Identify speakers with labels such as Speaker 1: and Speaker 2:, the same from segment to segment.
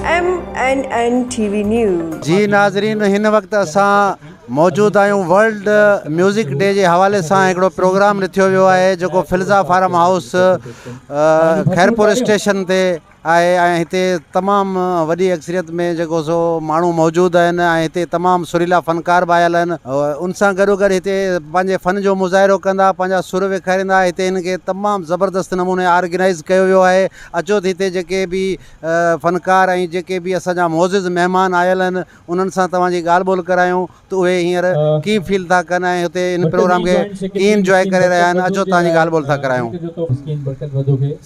Speaker 1: M N N T V news. جي ناظرين هن
Speaker 2: وقت اسان موجود آهيون ورلڊ ميوزڪ ڊي جي حوالي سان هڪڙو پروگرام رٿيو ويو آهي جيڪو Filza farm house Khairpur station تي آهي ۽ هتي تمام وڏي اڪثريت ۾ جيڪو سو ماڻهو موجود آهن ۽ هتي تمام سريلا فنڪار به آيل آهن ان سان گڏو گڏ هتي پنهنجي فن جو مظاهرو ڪندا پنهنجا سر وکاريندا هتي هن کي تمام زبردست نموني آرگنائز ڪيو ويو آهي اچو ته هتي جيڪي به فنڪار ۽ جيڪي به اسان جا معزز مهمان آيل آهن انهن سان توهان جي ڳالهه ٻولهه ڪرايون ته اهي هينئر ڪيئن فيل ٿا ڪن ۽ هتي هن پروگرام کي ڪيئن انجواء ڪري رهيا آهن اچو توهان جي ڳالهه ٻولهه ٿا ڪرايون.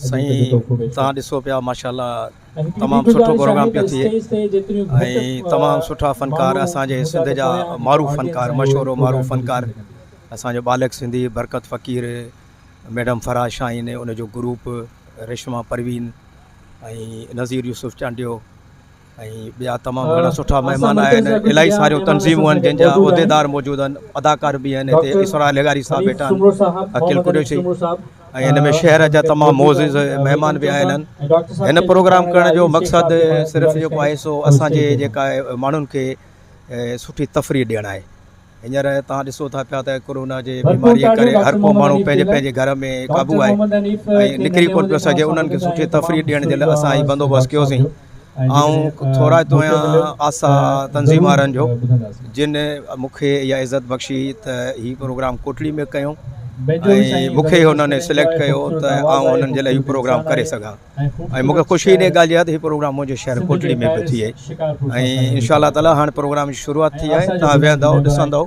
Speaker 2: سائين
Speaker 3: توهان ڏسو پيا ماشاءالله تمام سٺو پروگرام پيو ٿئي ۽ تمام سٺا فنڪار اسان جي سنڌ جا معروف فنڪار مشهور و معروف فنڪار اسان جو ٻالڪ سنڌي برڪت فقير ميڊم فرحه شاهين ان جو گروپ رشما پروين ۽ نظير يوسف چانڊيو ۽ ٻيا تمام گهڻا سٺا مهمان آيا آهن الاهي ساريون تنظيمون آهن جن جا عهديدار موجود آهن اداڪار به آهن هتي اسرار لغاري صاحب ويٺا آهن عقيل قريشي ۽ هن ۾ شهر جا تمام معزز مهمان به آيل آهن هن پروگرام ڪرڻ جو مقصد صرف جيڪو آهي سو اسانجي جيڪا ماڻهن کي سٺي تفريح ڏيڻ آهي هينئر توهان ڏسو ٿا پيا ته ڪورونا جي بيماريء ڪري هر ڪو ماڻهو پنهنجي پنهنجي گهر ۾ قابو آهي ۽ نڪري ڪونه پيو سگهي انهن کي سٺي تفريح ڏيڻ جي لاء اسان هي بندوبست ڪيوسين آئون ٿورائتو آهيان آسا تنظيم وارن جو جن مون کي اها عزت بخشي ته هي پروگرام ڪوٽڙي ۾ ڪيون ۽ مون کي هنن سليڪٽ ڪيو ته آئون هنن جي لاء هي پروگرام ڪري سگهان ۽ مون کي خوشي ان ڳالهه جي آهي ته هي پروگرام منهنجي شهر ڪوٽڙي ۾ به ٿئي ۽ انشاء الله تعاليٰ هاڻي پروگرام جي شروعات ٿي آهي تان ويهندؤ ڏسندؤ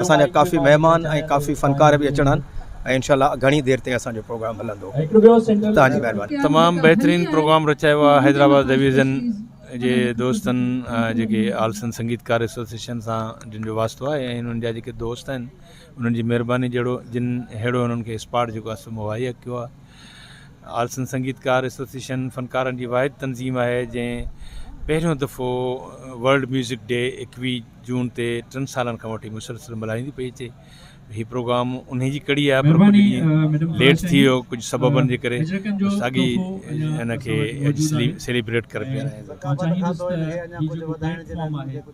Speaker 3: اسان جا ڪافي مهمان ۽ ڪافي فنڪار به اچڻا آهن ۽ انشاء الله گهڻي دير تائين اسان جو پروگرام هلندو تان جي مهرباني تمام بهترين
Speaker 4: پروگرام رچايو آهي حيدرآباد ڊويزن جي دوستن جيڪي آلسن سنگيتڪار ايسوسيشن سان جن جو واسطو آهي ۽ انهن جا جيڪي دوست آهن انهن جي مهرباني جهڙو جن ههڙو انهن کي اسپاٽ جيڪو آهي سو مهيا ڪيو آهي آلسن سنگيتڪار ايسوسيئيشن فنڪارن جي واحد تنظيم آهي جنهن پهريون دفعو ورلڊ ميوزڪ ڊي ايڪويهه جون تي ٽن سالن کان وٺي مسلسل ملهائيندي پئي اچي هي پروگرام انهي جي ڪڙي آهي پر ڪجهه ڏينهن ليٽ ٿي ويو ڪجهه سببن جي ڪري بس اڳي ان کي اڄ سيليبريٽ ڪري پيا رهيا آهيون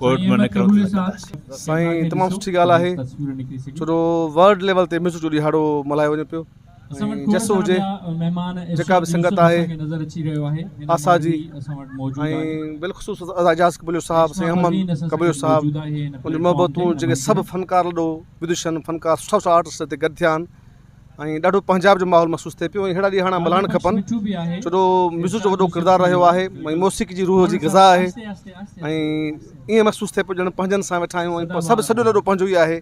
Speaker 4: ڪورٽ ۾ نه ڪرو ته ڪنداسين سائين تمام سٺي
Speaker 5: ڳالهه آهي ڇو جو ورلڊ ليول تي مس جو ڏهاڙو ملهايو وڃي پيو جس هجي جيڪا به سنگت آهي آسا جي ۽ بالخصوص اعجاز قبليو صاحب سي احمد قبليو صاحب ان جون محبتون جيڪي سڀ فنڪار لڏو بدوشن فنڪار سٺا سٺا آرٽسٽ هتي گڏ ٿيا آهن ۽ ڏاڍو پنجاب جو ماحول محسوس ٿئي پيو ۽ اهڙا ڏينهن هاڻ ملهائڻ کپن ڇو جو ميوزڪ جو وڏو ڪردار رهيو آهي ۽ موسيقي جي روح جي غذا آهي ۽ ائين محسوس ٿئي پيو ڄڻ پنهنجن سان ويٺا آهيون ۽ سڀ سڄو ڏنو پنهنجو ئي آهي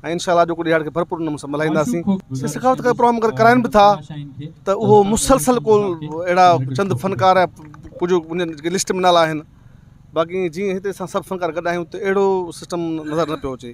Speaker 5: ۽ انشاء الله اڄوڪو ڏيهاڙ کي ڀرپور نموني سان ملهائينداسين سي سخاوت ڪا پروگرام اگر ڪرائن به ٿا ته اهو مسلسل ڪو اهڙا چند فنڪار يا ڪجهه انهن جي لسٽ ۾ نالا آهن باقي جيئن هتي اسان سڀ فنڪار گڏ آهيون ته اهڙو سسٽم نظر نه پيو اچي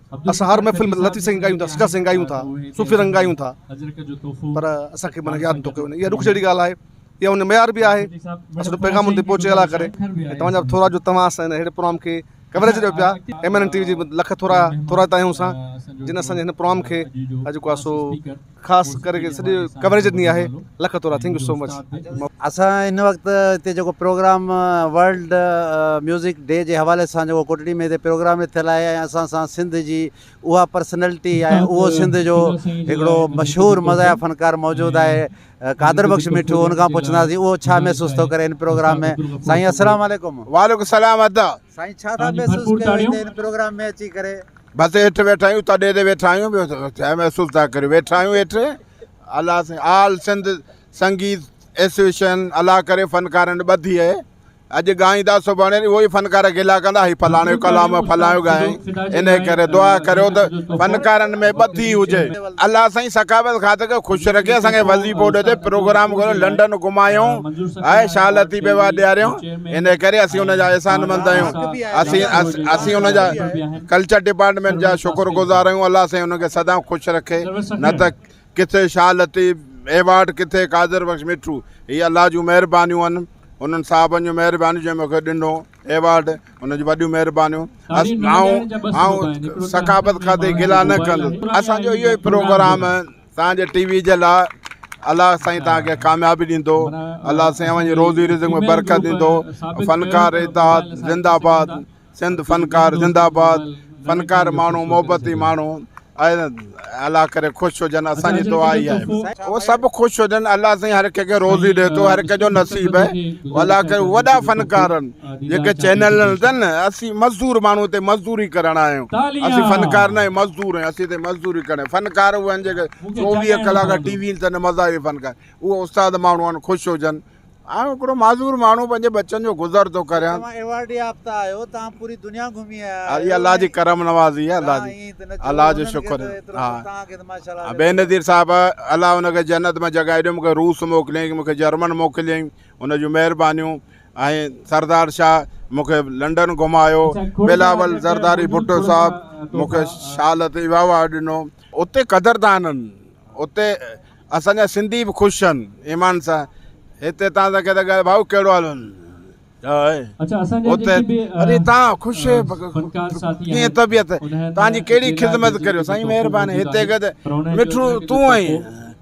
Speaker 5: اسان هر محفل ۾ لطيف سائين ڳايون ٿا سچا سائين ڳايون ٿا صوفي رنگ ڳايون ٿا پر اسانکي معنيٰ ياد نٿو ڪيو وڃي اها ڏک جهڙي ڳالهه آهي يا ان معيار به آهي اسان جو پيغام ان تي پهچي الا ڪري ۽ توهان جا ٿورا جو توهان اسان هيڙي پروگرام کي ڪوريج ڏيو پيا M N N T V جي لک ٿورا ٿورائتا آهيون اسان جن اسان جي هن پروگرام کي اڄ جيڪو آهي سو خاص ڪري سڄي ڪوريج ڏني آهي لک ٿورا ٿينڪ يو سو مچ. اسان هن
Speaker 2: وقت هتي جيڪو پروگرام ورلڊ ميوزڪ ڊي جي حوالي سان جيڪو ڪوٽڙي ۾ هتي پروگرام به ٿيل آهي ۽ اسان سان سنڌ جي اها پرسنلٽي ۽ اهو سنڌ جو هڪڙو مشهور مزاحيه فنڪار موجود آهي قادر بخش مٺو ان کان پڇنداسين اهو ڇا محسوس ٿو ڪري هن پروگرام ۾ سائين السلام عليڪم. وعليڪم
Speaker 6: السلام
Speaker 2: ادا. سائين ڇا ٿا
Speaker 6: محسوس
Speaker 2: ڪيو هتي هن پروگرام ۾ اچي ڪري. بس
Speaker 1: هيٺ ويٺا آهيون تڏهن تي ويٺا آهيون ٻيو ڇا محسوس ٿا ڪريو ويٺا آهيون هيٺ الله سين آل سنڌ سنگيت ايسوسيشن الله ڪري فنڪارن ٻڌي اهي اڄ ڳائيندا سڀاڻي اهو ئي فنڪار گلا ڪندا هي فلاڻو ڪلام فلاڻو ڳائي ان ڪري دعا ڪريو ته فنڪارن ۾ ٻڌي هجي الله سائين ثقافت کاتي کي خوش رکي اسان کي وظيفو ڏي پروگرام ڪريو لنڊن گھمايو هاي شال لطيف بيوا ڏياريو انهيء ڪري اسين ان جا احسان مند آهيون اسين اسين ان جا ڪلچر ڊپارٽمينٽ جا شڪر گذار آهيون الله سائين ان کي سدائين خوش رکي نه ته ڪٿي شاهه لطيف ايوارڊ ڪٿي قادر بخش مٺو هي الله جون مهربانيون آهن انهن صاحبن جون مهربانيون جنهن مونکي ڏنو ايوارڊ ان جون وڏيون مهربانيون آئون آئون ثقافت کاتي گلا نه ڪندس اسان جو اهو ئي پروگرام توهان جي ٽي وي جي لاء الله سائين توهان کي ڪاميابي ڏيندو الله سائين اوهان جي روزي رزق ۾ برڪت ڏيندو فنڪار اتحاد زنده آباد سنڌ فنڪار زنده آباد فنڪار ماڻهو محبتي ماڻهو الله ڪري خوش هجن اسان جي دعا اهي آهي هو سڀ خوش هجن الله سائين هر ڪنهن کي روزي ڏي ٿو هر ڪنهن جو نصيب آهي الله ڪري وڏا فنڪار جيڪي چينل نه اٿن اسين مزدور ماڻهو هتي مزدوري ڪرڻ آيا آهيون اسين فنڪار ناهي مزدور آهيون اسين هتي مزدوري ڪرڻ فنڪار اهي آهن جيڪي چوويهه ڪلاڪ ٽي وي اٿن مزا اهي فنڪار اهو استاد ماڻهو آهن خوش هجن آئون هڪڙو معذور ماڻهو پنهنجي بچن جو گذر ٿو ڪريان توهان ايوارڊ يافته آهيو
Speaker 2: توهان پوري دنيا گهمي آيا آهيو الله جي ڪرم
Speaker 1: نوازي آهي الله جي الله جو شڪر ها بي نظير صاحب الله ان کي جنت ۾ جڳهه ڏيو مونکي روس موڪليائين مونکي جرمن موڪليائين ان جون مهربانيون ۽ سردار شاهه مون کي لنڊن گهمايو، بلاول زرداري ڀٽو صاحب مون کي شال تي ويهاء ڏنو. اتي قدردانن، اتي اسان جا سنڌي به خوش ٿين ايمان سان، هتي تان سان ڪيتا ڳالهه ڀائو ڪهڙو حال هن جو آهي اتي اري تان خوش ڪيئن طبيعت تان جي ڪهڙي خدمت ڪريو سائين مهرباني هتي ڪده مٺو تون آهين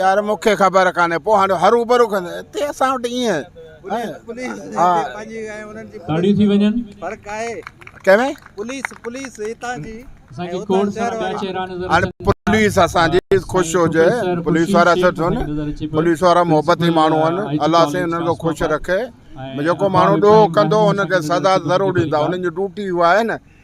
Speaker 1: يار مون کي خبر ڪانهي پوء هاڻي هروڀرو ڪن هتي اسان وٽ ايئن ڏاڍي ٿي وڃن فرق آهي ڪنهن پوليس پوليس هتان جي اسان کي ڪوڙ سان ٻيا چهرا نظر اچن پوليس اسان جي خوش هجي پوليس وارا سٺ هن پوليس وارا محبتي ماڻهو هن الله سائين انهن کي خوش رکي جيڪو ماڻهو ڏوهه ڪندو ان کي سزا ضرور ڏيندا انهن جي ڊيوٽي اها آهي نه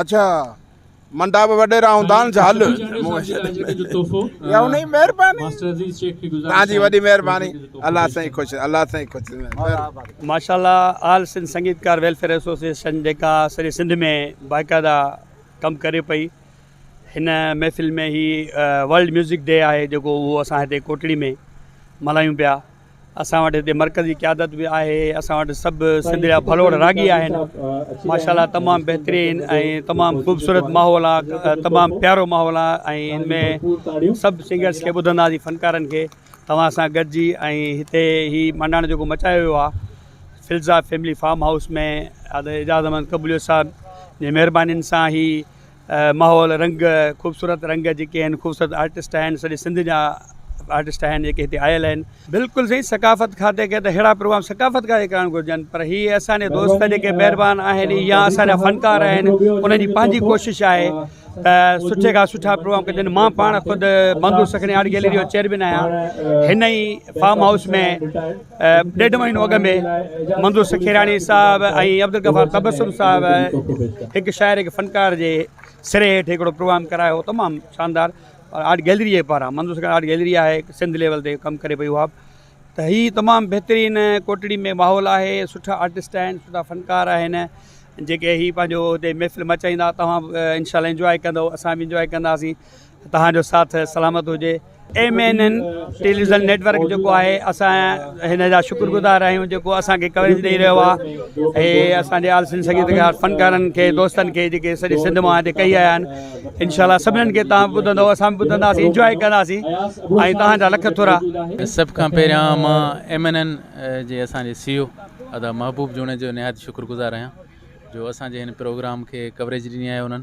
Speaker 1: اچھا منڊا به وڏيرا هوندا آهن ڇا هل يا انهي مهرباني توهان جي وڏي مهرباني الله سائين خوش الله سائين خوش ماشاءالله آل
Speaker 6: سنڌ سنگيتڪار ويلفيئر ايسوسيئيشن جيڪا سڄي سنڌ ۾ باقاعده ڪم ڪري پئي هن محفل ۾ هي ورلڊ ميوزڪ ڊي آهي جيڪو اهو اسان هتي ڪوٽڙي ۾ ملهايون پيا اسان وٽ هتي مرڪزي قيادت به آهي اسان وٽ سڀ سنڌ جا ڀلوڙ راڳي آهن ماشا الله تمام بهترين ۽ تمام خوبصورت ماحول آهي تمام پيارو ماحول آهي ۽ ان ۾ سڀ سنگرس کي ٻڌنداسين فنڪارن کي توهان سان گڏجي ۽ هتي هي مانڊاڻو جيڪو مچايو ويو آهي Filza family farm house ۾ Ijaz Ahmed قبوليو صاحب جي مهربانين سان هي ماحول رنگ خوبصورت رنگ جيڪي آهن خوبصورت آرٽسٽ آهن سڄي سنڌ جا آرٽسٽ آهن جيڪي هتي آيل آهن بلڪل سائين ثقافت کاتي کي ته اهڙا پروگرام ثقافت کاتي ڪرڻ گهرجن پر هي اسان جي دوست جيڪي مهربان آهن يا اسان جا فنڪار آهن انهن جي پنهنجي ڪوشش آهي ته سٺي کان سٺا پروگرام ڪجن مان پاڻ خود مندو سکڻي آرٽ گيلري جو چيئرمين آهيان هن ئي فارم هائوس ۾ ڏيڍ مهينو اڳ ۾ منظور سکيراڻي صاحب ۽ عبدالغفار تبسم صاحب هڪ شاعر هڪ فنڪار جي سري هيٺ هڪڙو پروگرام ڪرايو هو تمام شاندار اور آرٽ گيلري جي پاران منظور سکيراڻي آرٽ گيلري آهي سنڌ ليول تي ڪم ڪري پئي اها به ته هي تمام بهترين ڪوٽڙي ۾ ماحول آهي سٺا آرٽسٽ آهن سٺا فنڪار آهن جيڪي هي پنهنجو هتي محفل مچائيندا توهان انشاء الله انجوائي ڪندو اسان به انجوائي ڪنداسين توهان جو ساٿ سلامت هجي. M N N television network جيڪو آهي اسان هن جا شڪر گذار آهيون جيڪو اسان کي ڪوريج ڏئي رهيو آهي ۽ اسان جي آل سنڌ سنگيتڪار فنڪارن کي دوستن کي جيڪي سڄي سنڌ مان هتي ڪئي آيا آهن انشاء الله سڀنن کي تان ٻڌندو اسان به ٻڌنداسين انجوائي ڪنداسين ۽ توهان جا لک ٿورا سڀ کان
Speaker 7: پهريان مان ايم اين اين جي اسان جي سي او ادا محبوب جوڻيجو نهايت شڪر گذار آهيان جو اسان جي هن پروگرام کي ڪوريج ڏني آهي انهن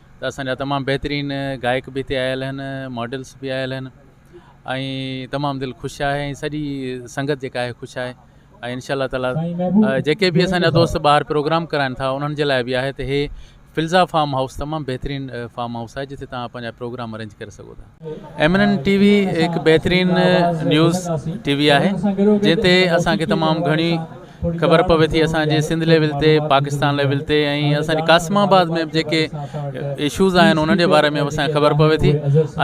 Speaker 7: ته اسان جا تمام بهترين گائڪ به هتي آيل آهن ماڊلس به آيل آهن ۽ تمام دل خوش آهي ۽ سڄي سنگت جيڪا آهي خوش آهي ۽ انشاء الله تعالي جيڪي به اسان جا دوست ٻاهر پروگرام ڪرائن ٿا انهن جي لاء به آهي ته هي فلزا فارم هائوس تمام بهترين فارم هائوس آهي جتي تهان پنهنجا پروگرام ارينج ڪري سگهو ٿا ايم اين ٽي وي هڪ بهترين نيوز ٽي وي آهي جنهن تي اسان کي تمام گهڻي خبر پوي ٿي اسان جي سنڌ ليول تي پاڪستان ليول تي ۽ اسان جي قاسم آباد ۾ جيڪي اشوز آهن انهن جي باري ۾ اسان کي خبر پوي ٿي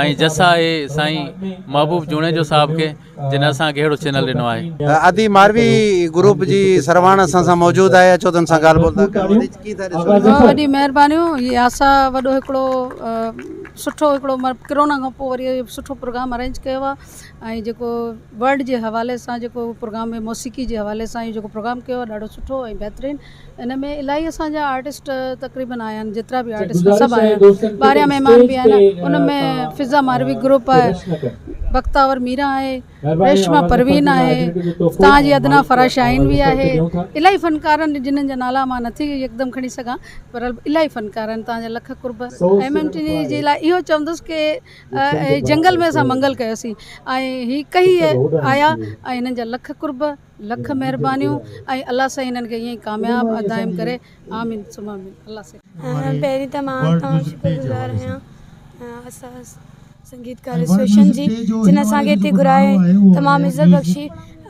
Speaker 7: ۽ جس آهي سائين محبوب جوڻيجو صاحب کي جنھن اسان کي اھڙو چينل ڏنو آھي. ادي ماروي
Speaker 2: گروپ جي سرواڻ اسان سان موجود آھي اچو تن سان ڳالھ ٻولھ ٿا ڪريون ادي ڪي ٿا ڏسو. بھت وڏي مھربانيون ھي
Speaker 8: آسا وڏو ھڪڙو سٺو ھڪڙو ڪرونا کان پوء وري سٺو پروگرام ارينج ڪيو آ ۽ جيڪو ورلڊ جي حوالي سان جيڪو پروگرام ۾ موسيقي جي حوالي سان ھي جيڪو پروگرام ڪيو آ ڏاڍو سٺو ۽ بھترين ان ۾ الاهي اسان جا آرٽسٽ تقريبن آيا آهن جيترا به آرٽسٽ سڀ آيا آهن ٻاهريان مهمان به آيا آهن ان ۾ فضا ماروي گروپ آهي بختاور ميرا آهي ريشما پروين آهي تان جي ادنا فرا شاهين به آهي الاهي فنڪارن جنن جا نالا مان نٿي يڪدم کڻي سگهان پر الاهي فنڪار آهن تان جا لک قرب ايم ايم ٽي وي جي لاء اهو چوندس ڪي جنگل ۾ اسان منگل ڪيوسين ۽ هي ڪهي آيا ۽ هنن جا لک قرب لک مھربانيون ۽ الله سائين ھنن کي ائين ئي ڪامياب ۽ دائم ڪري آمين ثم آمين الله سائين. پهرين ته مان اوهان
Speaker 9: جو شڪرگذار آهيان اسان سنگيتڪار ايسوسيئيشن جي جن اسان کي هتي گهرايو ۽ تمام عزت بخشي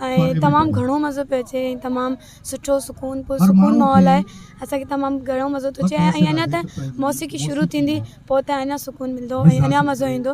Speaker 9: ۽ تمام گهڻو مزو پيو اچي ۽ تمام سٺو سڪون پر سڪون ماحول آهي اسان کي تمام گهڻو مزو ٿو اچي ۽ اڃان ته موسيقي شروع ٿيندي پوء ته اڃان سڪون ملندو ۽ اڃان مزو ايندو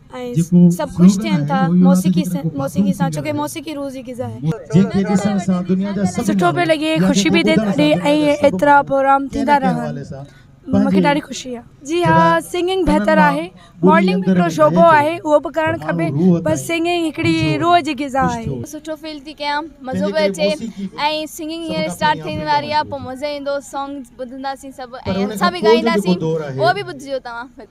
Speaker 9: ۽ سڀ خوش ٿين ٿا موسيقي سان ڇوڪه موسيقي روح جي غذا آهي. سٺو پيو لڳي خوشي پي ٿئي ڏاڍي ائين ايترا پروگرام ٿيندا رهن مون کي ڏاڍي خوشي آهي. جي ها سنگنگ بهتر آهي ماڊلنگ به هڪڙو شعبو آهي اهو به ڪرڻ کپي بس سنگنگ هڪڙي روح جي غذا آهي. سٺو فيل ٿي ڪيان
Speaker 10: مزو پيو اچي ۽ سنگنگ هينئر اسٽارٽ ٿيڻ واري آهي پوء مزو ايندو سانگز ٻڌنداسين سڀ ۽ اسان به ڳائينداسين اهو به ٻڌجو توهان.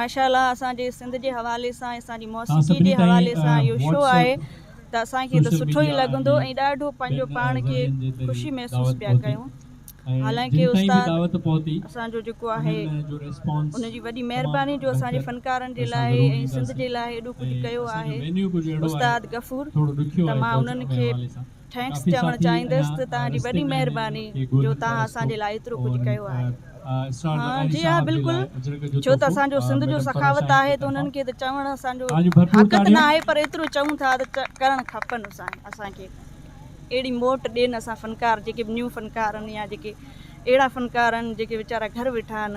Speaker 11: ماشاء الله اسان جي سنڌ جي حوالي سان اسان جي موسيقي جي حوالي سان اهو شو آهي ته اسان کي ته سٺو ئي لڳندو ۽ ڏاڍو پنهنجو پاڻ کي خوشي محسوس پيا ڪيون حالانڪه استاد اسان جو جيڪو آهي ان جي وڏي مهرباني جو اسان جي فنڪارن جي لاء ۽ سنڌ جي لاء ايڏو ڪجهه ڪيو آهي استاد غفور ته مان انهن کي ٿينڪس چوڻ چاهيندس ته توهان جي وڏي مهرباني جو توهان اسان جي لاء ايترو ڪجهه ڪيو آهي. ها جي ها بلڪل ڇو ته اسان جو سنڌ جو سخاوت آهي ته انهن کي ته چوڻ اسان جو حق ته ناهي پر ايترو چئون ٿا ته ڪرڻ کپن اسان کي اهڙي موٽ ڏين اسان فنڪار جيڪي به نيون فنڪار آهن يا جيڪي اهڙا فنڪار آهن جيڪي ويچارا گهر ويٺا آهن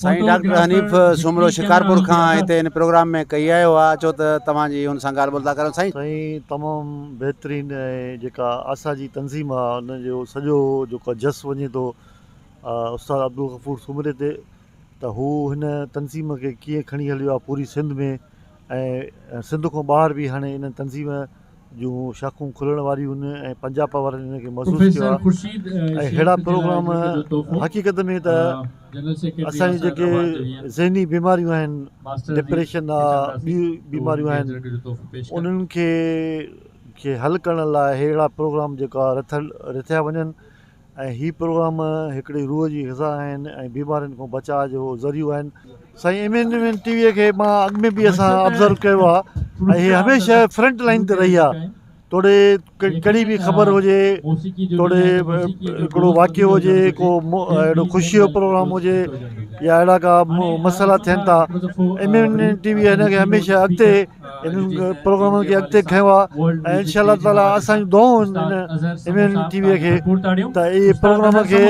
Speaker 11: سائين ڊاڪٽر
Speaker 2: حنيف سومرو شڪارپور کان هتي هن پروگرام ۾ ڪئي آيو آ اچو ته توهان جي هن سان ڳالهه ٻولهه ٿا ڪريون سائين. سائين تمام
Speaker 12: بهترين ۽ جيڪا آسا جي تنظيم آ ان جو سڄو جيڪو جس وڃي ٿو استاد عبدالغفور سومري تي ته هو هن تنظيم کي ڪيئن کڻي هليو آ پوري سنڌ ۾ ۽ سنڌ کان ٻاهر به هاڻي ان تنظيم جون شاخون کلڻ واريون هن ۽ پنجاپا وارن هن کي محسوس ڪيو آهي ۽ اهڙا پروگرام حقيقت ۾ ته اسان جون جيڪي ذهني بيماريون آهن ڊپريشن آهي ٻيون بيماريون آهن انهن کي کي حل ڪرڻ لاء اهڙا پروگرام جيڪا رٿل رٿيا وڃن ۽ هي پروگرام هڪڙي روح جي غذا آهن ۽ بيمارين کان بچاء جو ذريعو آهن. سائين M N N T V کي مان اڳ ۾ به اسان ابزرو ڪيو آ ۽ هي هميشه فرنٽ لائين تي رهي آ توڙي ڪهڙي به خبر هجي توڙي هڪڙو واقعو هجي ڪو اهڙو خوشي جو پروگرام هجي يا اهڙا ڪا مسئلا ٿين ٿا M N N T V هن کي هميشه اڳتي انهن پروگرامن کي اڳتي کنيو آ ۽ انشاء الله تعالي اسان جون دعائون ايم اين ٽي وي کي ته اهي پروگرام کي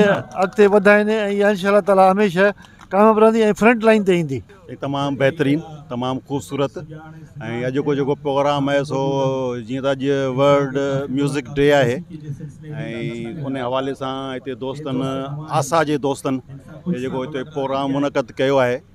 Speaker 12: اڳتي وڌائين ۽ اها انشاء الله تعالي هميشه ڪامياب رهندي ۽ فرنٽ لائين تي ايندي. تمام بهترين
Speaker 13: تمام خوبصورت ۽ اڄ جو جيڪو پروگرام آهي سو جيئن ته اڄ ورلڊ ميوزڪ ڊي آهي ۽ ان حوالي سان هتي دوستن آسا جي دوستن جيڪو هتي پروگرام منعقد ڪيو آهي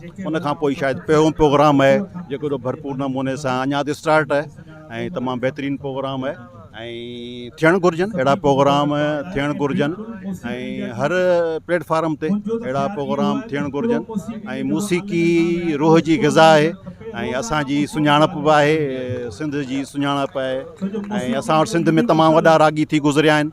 Speaker 13: ان کان پوء شايد پهريون پروگرام آهي جيڪو ايڏو ڀرپور نموني سان اڃا ته اسٽارٽ آهي ۽ تمام بهترين پروگرام آهي ۽ ٿيڻ گهرجن اهڙا پروگرام ٿيڻ گهرجن ۽ هر پليٽفارم تي اهڙا پروگرام ٿيڻ گهرجن ۽ موسيقي روح جي غذا آهي ۽ اسانجي سڃاڻپ به آهي سنڌ جي سڃاڻپ آهي ۽ اسان وٽ سنڌ ۾ تمام وڏا راڳي ٿي گذريا آهن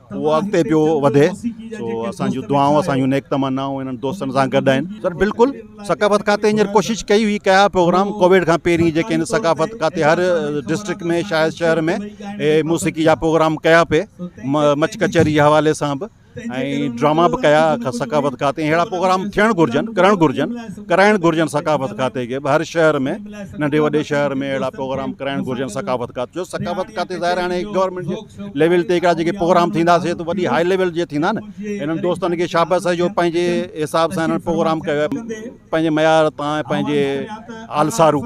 Speaker 13: اهو اڳتي پيو وڌي سو اسان جون دعائون اسان جون نيڪ تمنائون انهن دوستن سان گڏ آهن سر بلڪل ثقافت کاتي هينئر ڪوشش ڪئي هئي ڪيا پروگرام ڪوويڊ کان پهرين جيڪي آهن ثقافت کاتي هر ڊسٽرڪٽ ۾ شايد شهر ۾ اهي موسيقي جا پروگرام ڪيا پئي مچ ڪچهري جي حوالي سان به ۽ ڊراما به ڪيا ثقافت کاتي اهڙا پروگرام ٿيڻ گهرجن ڪرڻ گهرجن ڪرائڻ گهرجن ثقافت کاتي کي هر شهر ۾ ننڍي وڏي شهر ۾ اهڙا پروگرام ڪرائڻ گهرجن ثقافت کاتي جو ثقافت کاتي ظاهر آهي هاڻي گورنمنٽ جي ليول تي هڪڙا جيڪي پروگرام ٿيندا سي ته وڏي هاء ليول جي ٿيندا نه هنن دوستن کي شابس آهي جو پنهنجي حساب سان هنن پروگرام ڪيو پنهنجي معيار تان ۽ پنهنجي آلسارو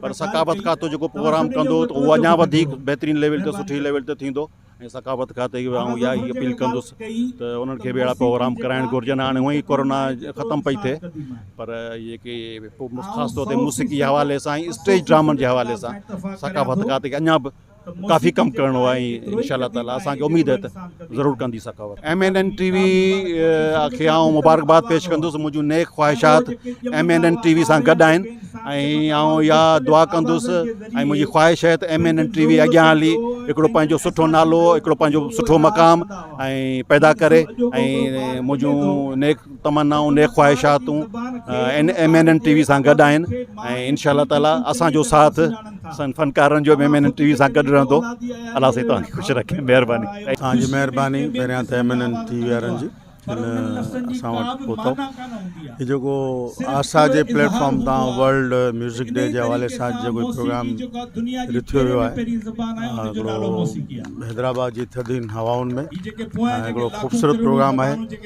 Speaker 13: پر ثقافت کاتو جيڪو پروگرام ڪندو ته اهو اڃا وڌيڪ بهترين ليول تي سٺي ليول تي ٿيندو ۽ ثقافت کاتي کي آئون اها ئي اپيل ڪندس ته انهن کي به اهڙا پروگرام ڪرائڻ گهرجن هاڻي هونئن ئي ڪورونا ختم پئي ٿئي پر جيڪي خاص طور تي موسيقي حوالي سان اسٽيج ڊرامن جي حوالي سان ثقافت کاتي کي اڃا به ڪافي ڪم ڪرڻو آهي ۽ انشاء الله تعالٰي اسان کي اميد آهي ته ضرور ڪندي سخاوت M N N T V کي آئون مبارڪباد پيش ڪندس منهنجون نيڪ خواهشات M N N T V سان گڏ آهن ۽ آئون يا دعا ڪندس ۽ منهنجي خواهش آهي ته M N N T V اڳيان هلي هڪڙو پنهنجو سٺو نالو هڪڙو پنهنجو سٺو مقام ۽ پيدا ڪري ۽ منهنجون نيڪ تمنائون نيڪ خواهشاتون ان M N N T V سان گڏ آهن ۽ انشاء الله تعالی اسانجو ساٿ اسان فنڪارن جو M N N T V سان گڏ رهندو الله سائين توهان کي خوش رکي مهرباني توهان جي مهرباني
Speaker 1: پهريان ته M N N T V وارن جي اسان وٽ پهتو هي جيڪو آسا جي پليٽفارم تان ورلڊ ميوزڪ ڊي جي حوالي سان جيڪو پروگرام رٿيو ويو آهي هڪڙو حيدرآباد جي ٿڌين هوائن ۾ هڪڙو خوبصورت پروگرام آهي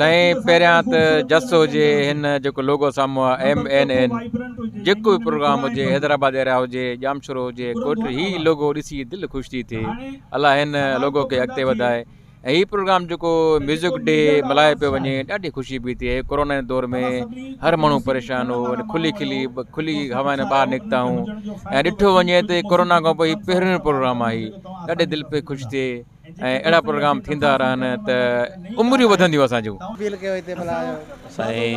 Speaker 1: تنهن پهريان
Speaker 14: ته جس هجي هن جيڪو لوگو سامهون آهي ايم اين اين جيڪو به پروگرام هجي حيدرآباد ايريا هجي ڄامشورو هجي ڪوٽڙي هي لوگو ڏسي دل خوش ٿي ٿئي الله هن لوگو کي اڳتي وڌائي ۽ هي پروگرام جيڪو ميوزڪ ڊي ملهايو پيو وڃي ڏاڍي خوشي پي ٿئي ڪورونا جي دور ۾ هر ماڻهو پريشان هو کلي کلي کلي هوائن ٻاهر نڪتا آهيون ۽ ڏٺو وڃي ته ڪورونا کان پوء هي پهريون پروگرام آهي ڏاڍي دل پي خوش ٿئي ۽ اهڙا پروگرام ٿيندا رهن ته
Speaker 2: عمريون
Speaker 14: وڌنديون اسان جون. سائين